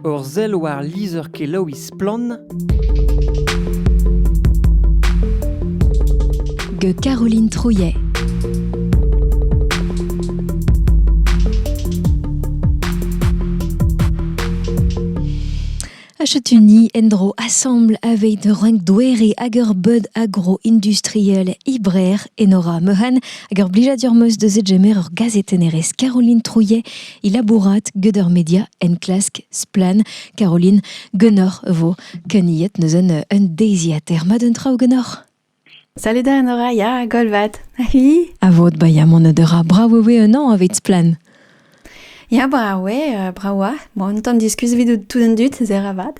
Ur sell war lizher-kelaouiñ Splann! gant Caroline Trouillet. Achutuni endro assemble avec renk douere ager bud agro-industriel Ibrer Enora Mehan ager blijadur meus de zegemer ur gazet enerez Caroline Trouillet Il labourat gant ur media enklask Splann Caroline Gunor vo keniet neuzen euh, un deiziater. Ma d'un traoù Gunor Salut da Nora, ya, golvat. Ahi. A vod baia mon dera, bravo ve un an aveit Splann. Ya, bravo, euh, bravo. Bon, un tan diskuz vidout tout un dut, zer avad.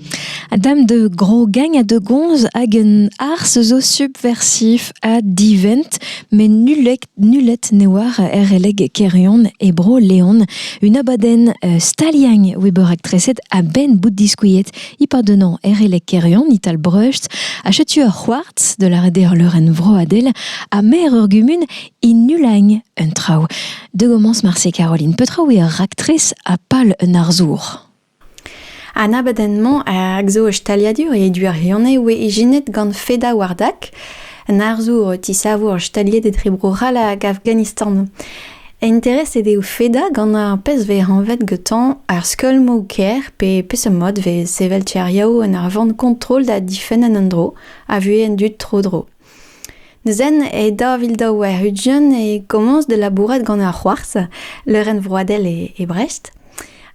A dam da grogagn ha da gomz hag un arz zo subversif ha divent met nullet nullet ne oar er releg Kerion e Bro-Leon un abadenn staliagn oa bet raktreset a-benn bout diskuilhet ipadennañ er releg Kerion Ital Breust ha setu ur c'hoartz de la rederleurenn vroadel ha maer ur gumun innulagn un traoù. De gommence marse Caroline Petraoù eo ur raktres ha pal un arzour. An abadenn-mañ a zo ur staliadur e Duarione oa ijinet gant Feda Wardak, an arzour o tisavour staliet etre Bro-C'hall hag Afghanistan. Intereset eo Feda gant ar pezh vez anvet gantañ ar skeulmoù-kaer pe peseurt mod vez sevel tiriaou en ur vont kontrol da difenn an endro a vuhez an dud tro-dro. Zen e daou vil daou warn-ugent e komañs da labourat gant ar c'hoarzh, leurenn vroadel e Brest.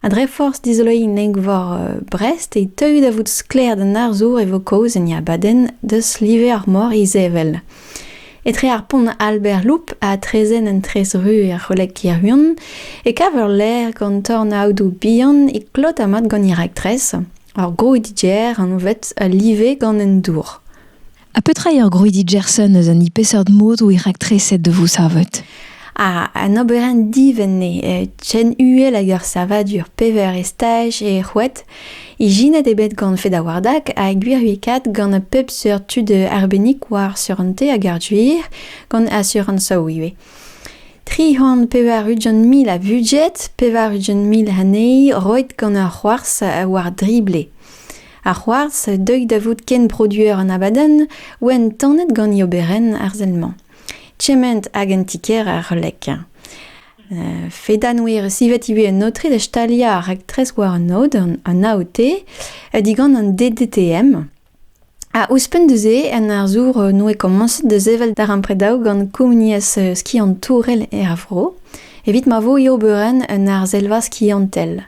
Ha dre forzh dizoloiñ neg-vor Brest e teuy da vout sklaer d'an arzour e vo kaoz en e abadenn deus live ar mor izevel. Etre ar pont Albert Loup ha traezhenn an Trezru er c'holeg Kirhun e kav ur lec'h gant tornaodoù bihan e klot ha mat gant he raktres, ur gro-DJ anvet Live gant an dour. Ha petra eo ur grouidi Gerson eus an peseurt mod eo raktreset da vo savet An oberenn divent eo eh chen uhel hag ur savadur pevar estaj eo c'hoet. Ijinet eo bet gant Fedawardak ha gwirwikaet gant pep seurt tud arbennik war surante hag ar gwir, gant asurañsoù ivez. Tri c'hant pevar ugent mil a budget, pevar ugent mil anezhi roet gant ur c'hoarzh war drible. Ar c'hoarzh, deuit da vout kenproduer an abadenn, oant tanet gant e oberenn arzel-mañ. Kement hag en ti-kêr er C'hlek. Uh, fedanwir sivet ivez un aotre da staliañ ar raktres war an aod, an AOT, digant an DDTM. Ha ouzhpenn da-se, un arzour noe komañset da sevel darempredaoù gant komuniezh skiantourel er vro, evit ma vo e oberenn un arzelva skiantel.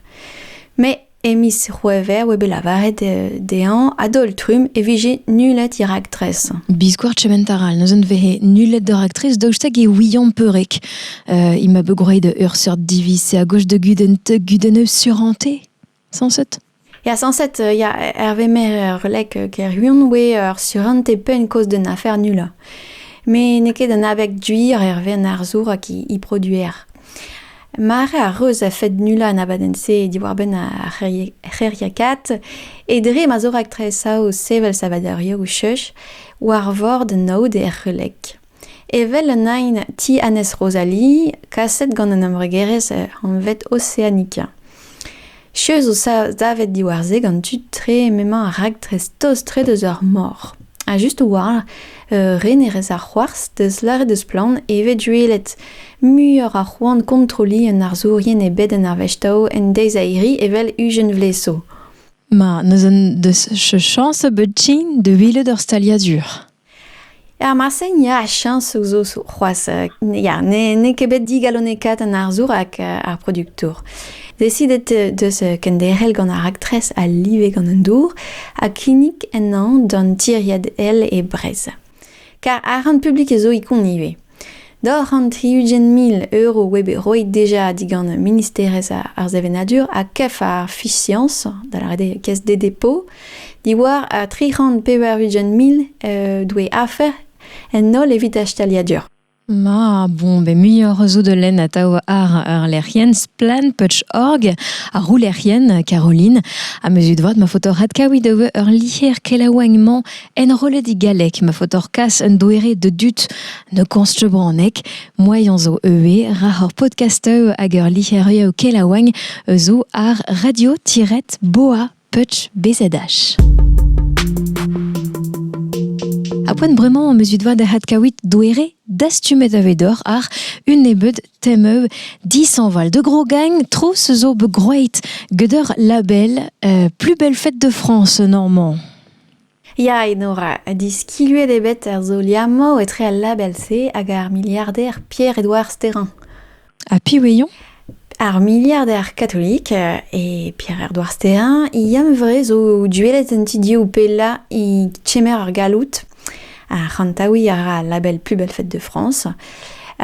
Mais E miz C'hwevrer oa bet lavaret dezhañ a-daol-trumm e vije nullet he raktres. Biskoazh kement a ra neuzen vehe nullet da raktres daoust hag e ouiañ peurreg. Uh, il m'a bet groeit ur seurt diviz a gozh da gudenn te gudenn surante, sañset? Ya, sañset, euh, ya, Hervé Mayer releg Kerhuon oe ur surante penn-kaoz d'un afer nullañ. Me n'eo ket un abeg duir Hervé an arzour hag he produer. Mare a reus a-fed nullañ an abadenn-se diwar-benn ar c'hêriakaat e dre ma zo raktres saoz sevel savadurioù cheuz war vord naoud er C'heuleg. Evel an aen Ti Annez Rosalie, kaset gant an embregerezh anvet Oceanica. Cheuz zo savet diwar-se gant tud-tre m'emañ ar raktres tost-tre deus ar mor. Ha just a-walc'h, re ne rez ar c'hoarzh, deus lâret eus splann e vez duellet muioc'h a c'hoant kontrolliñ un arzourien e bed an arvestaoù en deiz-airi evel Eugène Vlesaud. Ma, n'eus en deus chañs a bep ti da welet ur staliadur. Er marse, ya, chañsoù zo c'hoazh. Ya, n'eo ket bet digalonekaet an arzour hag ar produktour. Desidet deus kenderc'hel gant ar raktres a live gant an dour ha kinnig ennañ d'an tiriad Ail e Brezh. Kar arc'hant publik zo ikon ivez. D'hor an tri-ugent mil euro oa bet roet deja digant Ministerezh ar Sevenadur ha kef ar Fisiañs, da lâret eo Caisse des dépôts, diwar ar tri c'hant pevar-ugent mil euh, doe afer en holl evit ar staliadur. Ma, bon, ben, muioc'h zo de len atao ar ar lec'hien splanputch.org, ar roul lec'hien, Caroline, a mezu de voat ma foto rat kaoui de ur liher kelaouagnement Enrollet e galleg ma faotoc'h kas un doere de dud ne konstebraneg. Moaien zo eue ra hor podcasteù hag ur lic'herioù kelaouagn zo ar radio-boa.bzh. A poent bremañ mezut vat da hat kawit doere dastumet avedor ar un nebeud temeu disanval de gros gagne tro se zo be groeit geder label euh, plus belle fête de France normand. Ya, Enora, diskiluet eo bet ar solier-mañ etre al label-se hag ar miliarder Pierre-Edouard Sterrin. Ha piv eo eo? Ar miliarder katolik e Pierre-Edouard Sterrin, yann-vre zo duellet en ti div pellañ e kemer ar galloud. Ha c'hantaouiñ a ra al label Plus belle fête de France.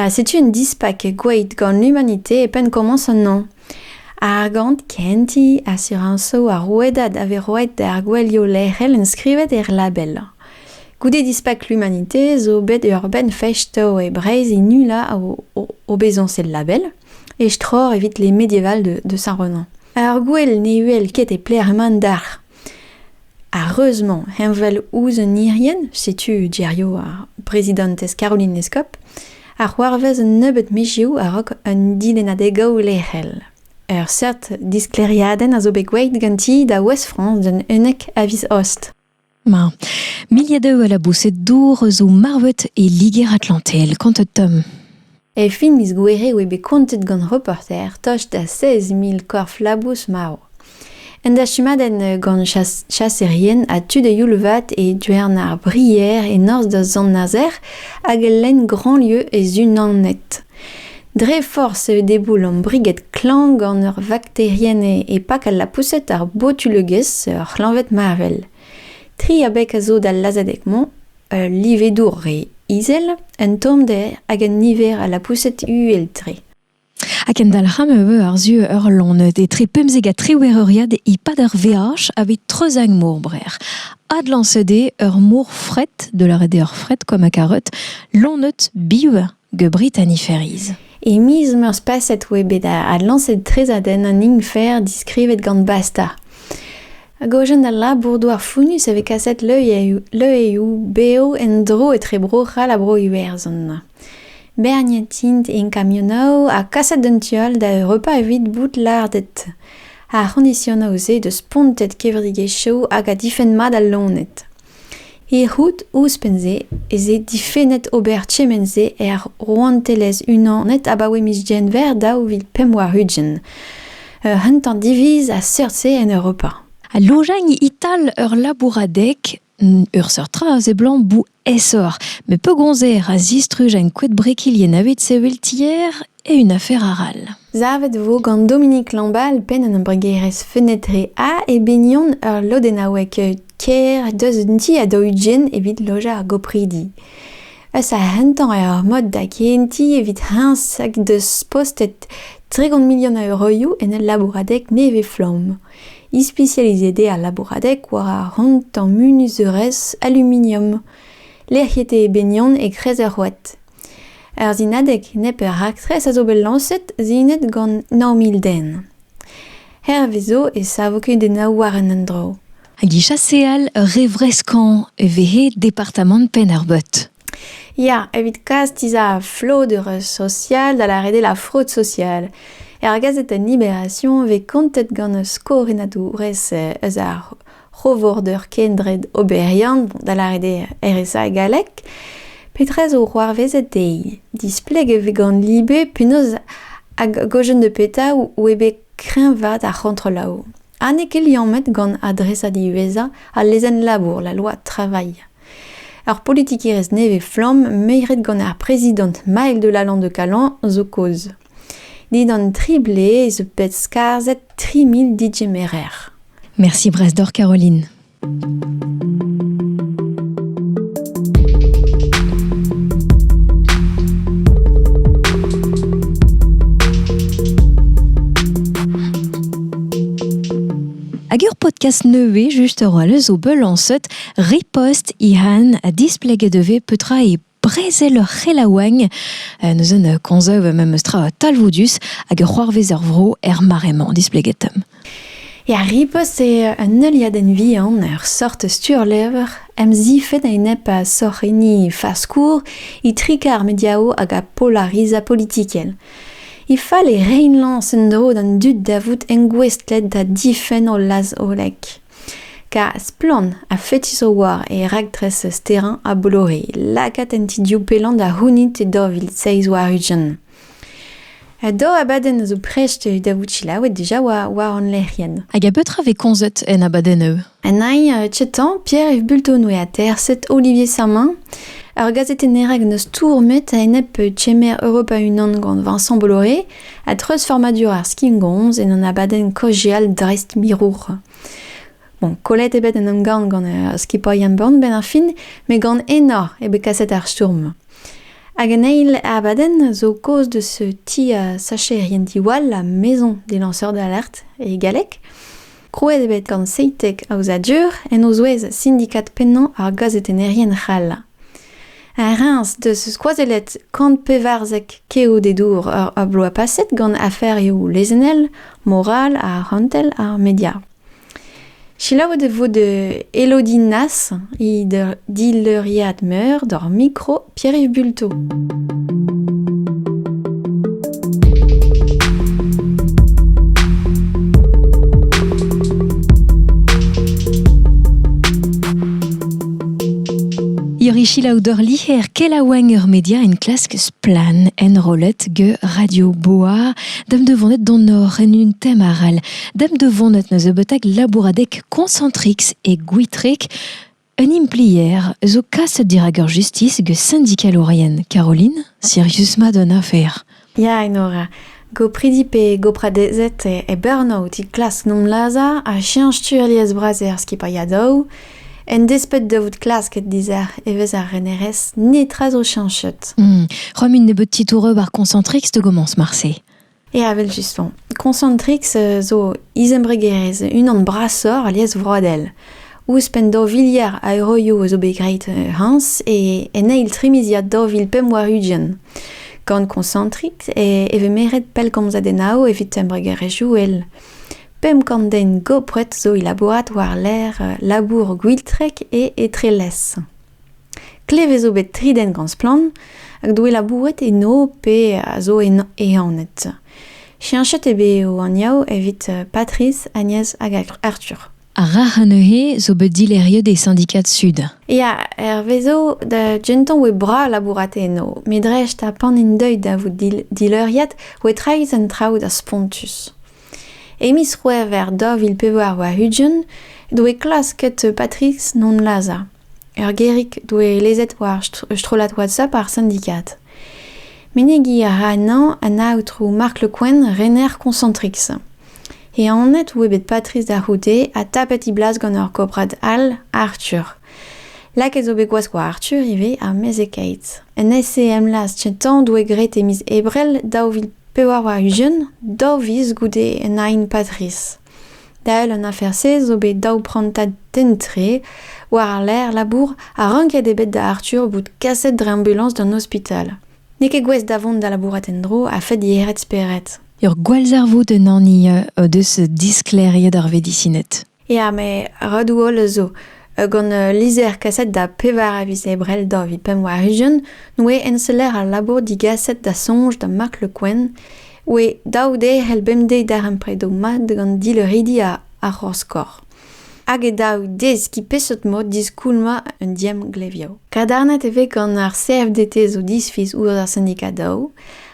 Setu un dispak gwaet gant l'humanité e penn komañs an hañv. Ar gant kentiñ asurañsoù ar rouedad a vez roet d'ar gouelioù lec'hel enskrivet er label. Goude dispak l'Humanité zo bet ur benn festo e Breizh e nullañ o bezañs el label, e stror evit les médiévals de Saint-Renan. Ur gouel ne uhel ket e pler mand dalc'h. Ar reuz-mañ heñvel ouzh un irienn, setu geriaou ar brezidantez Caroline Lescop, a c'hoarvez un nebeud mizioù a-raok un dilennadeg-gaou lec'hel. Ur seurt disklêriadenn a zo bet gwelet ganti da Ouest-France d'un unnek a viz Aost. Ma. Milliers d'eux à la boussée d'ours zo marvet e Liger-Atlantel. Quant à Tom E fin miz Gouere e oe bet kontet gant reporter tost da seiz mil korf-labous marv. Un dastumadenn gant chas- chaserien ha tud a-youl-vat e Diouern ar Brier e norzh da Sant-Nazer hag lenn Grandlieu e Zunanet. Dre forzh e deboulom briged klañv gant ur vakterienn e pak al lapoused ar botulegezh ur c'hleñved marvel. Tri abeg a zo d'al lazhadeg-mañ. Ul livedour re izel, un tommder hag un niver a lapoused uhel-tre. Ha kendalc'hañ e vo àr-zu ur loened etre pemzek ha triwec'h euriad e-pad ur veaj aveit treuzag mor Brer. Adlañset eo ur mor fret, da lâret eo ur fret, comme a karet, loened biv The Britanniferes. E miz Meurzh-Paset oa bet adlañset trezadenn an Infer diskrivet gant Basta. Hag ojen al labour-douar founnus e vez kaset leueioù bev en-dro etre Bro-C'hall ha Bro-Iwerzhon. Berniet int en kamionoù ha kaset d'un tu all da Europa evit bout lardet. Ar c'hondisionoù-se deus spontet kevredigezhioù hag a difenn mat al loened. Erruet ouzhpenn-se ez eo difennet ober kement-se er Rouantelezh-Unanet abaoe miz Genver daou vil pemp warn-ugent. Ur c'hentañ diviz a seurt-se en Europa. Al lojañ ital ur labouradeg, ur seurt tra a seblant bout aesoc'h, met pegoulz eo ra zistruj en koed brekilien evit sevel tier Eun afer arall. Savet e vo gant Dominique Lambal, penn an embregerezh Fenêtre A, e binion ur lodennaoueg kêr deus un ti a daou-ugent evit lojañ ar gopridi. Eus ar rentañ eo ar mod da gehentiñ evit heñs hag deus postet tregont milion a euroioù en ul labouradeg nevez-flamm. Ispisializet eo al labouradeg war ar rentañ munuzeurezh aluminium. Lec'hiet eo e binion e-kreiz ur c'hoad. Ur sinadeg nepeur raktres a zo bet lañset sinet gant nav mil den. Hervez zo e savo kudennoù war an endro. Hag e chaseal ur re vreskañ e vehe departamant Penn-ar-Beut. Ya, evit kas tizha flodeur sosial da lâret eo la fraude sociale. Er gazetenn Libération e vez kontet gant skoriadourez eus ar c'hovorder kendred oberiant, da lâret eo RSA e galleg, petra zo c'hoarvezet dezhi? Displeg e vez gant libe penaos hag gojenn de petra oe bet kreñvaat ar c'hontrolaoù. Ha n'eo ket liammet gant adresad diwezhañ al lezenn-labour, la loi travail. Ur politikerezh nevez-flamm meiret gant ar prezidant Maël de Lalande de Calan zo kaoz. Dindan tri blez zo bet skarzhet tri mil digemerer. Merci Brasdor Caroline. Agur podcast nevez juste roi le zo belancet ripost i han a displeg e devez petra e brezel ur c'helaouenn, neuze ne konzeuv memes tra talvoudus hag ur c'hoarvez er vro er mare-mañ displeget. Ya, ripost eo un heuliadenn vihan, ur sort sturlevr, emzifet a-enep a sorc'henni faskour, itrik ar mediao hag a polariza politikel. He fal e rein lañs en-dro d'an dud da vout engouestlet da difenn o laz-hollek. Kar splann ha fetis o oa e raktres sterañ a Bolore lakaat an ti div pellant da c'hounit e daou vil seizh warn-ugent. Ha daou abadenn a zo prest da vout selaouet dija war, war hon lec'hienn. Hag a betra vez komzet en abadennoù? En ai uh, Chetan, Pierre Yves Bultonwe ha terset Olivier Sermin. Ur gazetenner hag n'eus stourmet a-enep chemer Europa Unan gant Vincent Bolloré, A-dreuzfurmadur ar skingomz en un abadenn kaozeal dreist-mirour. Bon, kollet eo bet en emgann gant uh, skipailh Burn benn ar fin, met gant enor eo bet kaset ar stourm. Hag an eil abadenn zo kaoz de ce ti a sacherien diwall ha maison des lanceurs d'alerte e galleg. Krouet eo bet gant Seitek Aozadur en o zouez sindikad pennañ ar gazetennerien c'hall. Reims deus skoazellet kant pevarzek keodedour ar bloaz paset gant aferioù lezennel, moral, arc'hantel ha media. Selaouet e vo de Elodie Nas, he dileuriad meur d'ar mikro Pierre-Yves Bulto. Irichila odor liher kelaouenn ur media en klask splan enrollet ge Radio Boa dem devonet don or en un tem aral dem devonet neus ebeutak labouradek Concentrix et Gwitrek Un implier zo kaset dirak ur justis gant sindikalourien, Caroline, Sirius ma don afer. Ya, Enora. Gopridi pe gopradezed e Burnout e klask nomlazhañ ha cheñch tu alies-bras er skipailhadoù. En desped da vout klasket dizher evezh ar renerezh, netra zo cheñchet. Hmm. Romm int nebeut titouroù ar Concentrix da gomañs marse. Ya, evel-just 'mañ. Concentrix zo izembregerezh unan brasoc'h alies vroadel. Ouzhpenn daou viliard a euroioù a zo bet graet hañs e en eil trimiziad daou vil pemp warn-ugent. Gant Concentrix e vez meret pellgomzadennoù evit embregerezhioù all. Pemp kant den gopret zo e labourat war-lerc'h labour Gwiltrek e Etrelez. Klevet zo bet tri den gant splann hag doe labouret eno pe a zo ehanet. Cheñchet eo bet o anvioù evit Patrice, Agnès hag Arthur. Ar rac'h neuze zo bet dileriet e Syndicats Sud. Ya, hervezo da gentañ oe bras labourat eno, me dreist ha pan int deuet da vout dileuriad oe traezh an traoù da spontus. E miz C'hwevrer daou vil pevar warn-ugent doe klasket Patrice non lazhañ. Ur gêrig doe lezet war ur strollad WhatsApp ar sindikad. Menegiñ a ra anezhañ an aotrou Marc Le Quen, rener Concentrix. E anat eo bet Patrice da c'houde ha tapet he blas gant ur gobrad all, Arthur. Lakaet zo bet gwazh war Arthur ivez, ar mezhekaet. En SEM Laz Tintan doe graet e miz Ebrel daou vil pevar warn-ugent, daou viz goude un aen Patrice. Dael an afer-se zo bet daou prantad den-tre war-lerc'h labour ha ranket eo bet da Arthur bout kaset dre ambulañs d'an ospital. N'eo ket gouest da vont da labourat en-dro a-fed yec'hed spered. Ur gwallzarvoud un hani o deus disklêriet ar vedisined. Ya, met redoù holl zo. Gant ul lizher kaset da pevar a viz Ebrel daou vil pemp warn-ugent, n'oe enseller al labour digaset da soñj da Mark Le Quen Oe daou de c'hell bemdez darempredoù mat gant dileuridi ar c'horskor. Hag e daou deskiñ peseurt mod diskoulmañ un diemglevioù. Kadarnet e vez gant ar CFDT zo disfiz ouzh ar sindikad daou,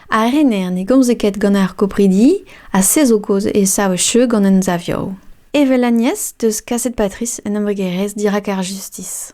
ha rener ne gomze ket gant ar gopridi, ha se zo kaoz e sav cheu gant emsavioù. Evel Agnès 'deus kaset Patrice un embregerezh dirak ar justis.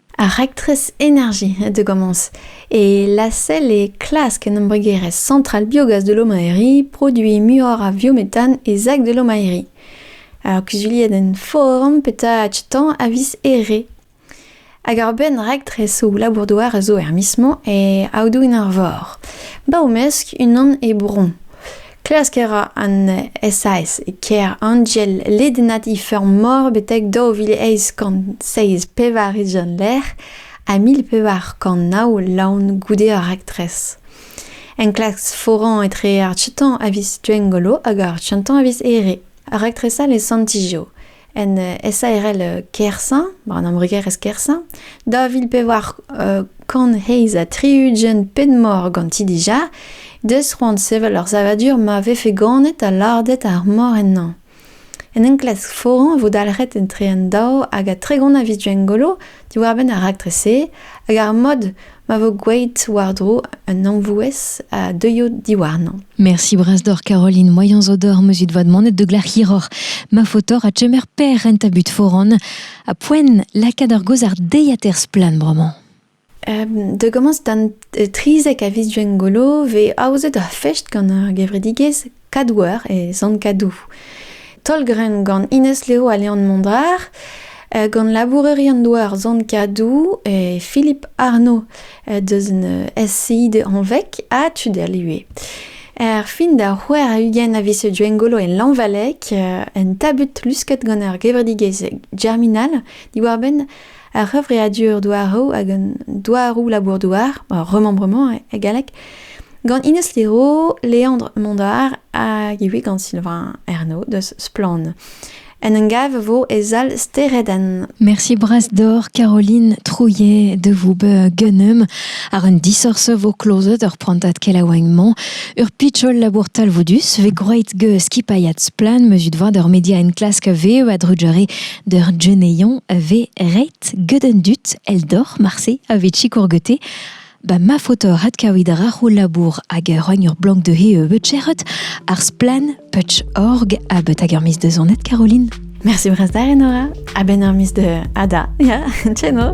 Ar raktres Energie de Gomans et lacelle est klask en embregerezh Centrale Biogaz de Lomaérie produiñ muioc'h a viométhane e sac de Lomaérie. Ar kuzuliadenn forum petra achetañ a vis ere. Hag ur benn raktresoù labour-douar a zo er mis-mañ e Aodoù-an-Arvor. Ba o mesk unan e Bouron. Klask a ra an SAS e kêr Angel ledennat he feur-mor betek daou vil eizh kant seizh pevar-ugent lec'h ha mil pevar kant nav laon goude ar raktres. Enklask foran etre ar tutañ a vis Gwengolo hag ar tutañ a vis Here. Raktres all e Sant-Ijo. en SARL Kersaint, war an embregerezh Kersaint, da vil pevar kant heiz ha tri-ugent ped-mor ganti dija, deus c'hoant sevel ur savadur ma vefe ganet ha lardet ar mor ennañ. En enklask foran e vo dalc'het etre an daou hag a tregont a viz Gwengolo diwar-benn ar raktres-se hag ar mod ma vo gwelet war-dro un amvouez a deuio diwarnañ. Merci Brasdor Caroline Moyans Odor Musit Vad Monet de Glac'hiror ma fotor a chemer per renta but foran a poen lakaat ar gozar deiater splan bremañ. Da gomañs d'an trizek a viz Gwengolo vez aozet ur fest gant ar gevredigezh Kadouer e Sant-Kadou. Taol-grenn gant Ines Leo ha Leon Mondar, euh, gant labourerion-doa ar Sant-Kadou et Philippe Arnaud euh, deus un euh, SCI de Anvec ha Tuderlue. Er fin da c'hwer a ugent a vise Duengolo en Lanvalec, un tabut lusket gant ar gevredigezh germinal, diwar-benn ar c'hevreadur douaroù hag an douaroù labour-douar, remembrement e galleg, gant Ines Lero, Leandre Mondard hag ivez gant Sylvain Ernaud deus Splann. En un gav vo e sal Steredenn. Merci bras d'or Caroline Trouillet de vous gunnum ar un disorse vo klozet ur prantat kelaouagnement ur pitchol labour talvoudus ve groeit ge skipaiat splan meus ut voa d'ur media en klask veo a drujere D'ur geneion a vez ret get an dud eldoc'h marse a vez sikour gete. Ba ma faotr adkavit a ra ho labour hag a roagn ur blank dezhe euh, bet cheret ar splann putch.org ha bet hag ur miz deus annet Caroline. Merci brastar Enora. A ben ur miz de Ada. Ya, tcheno.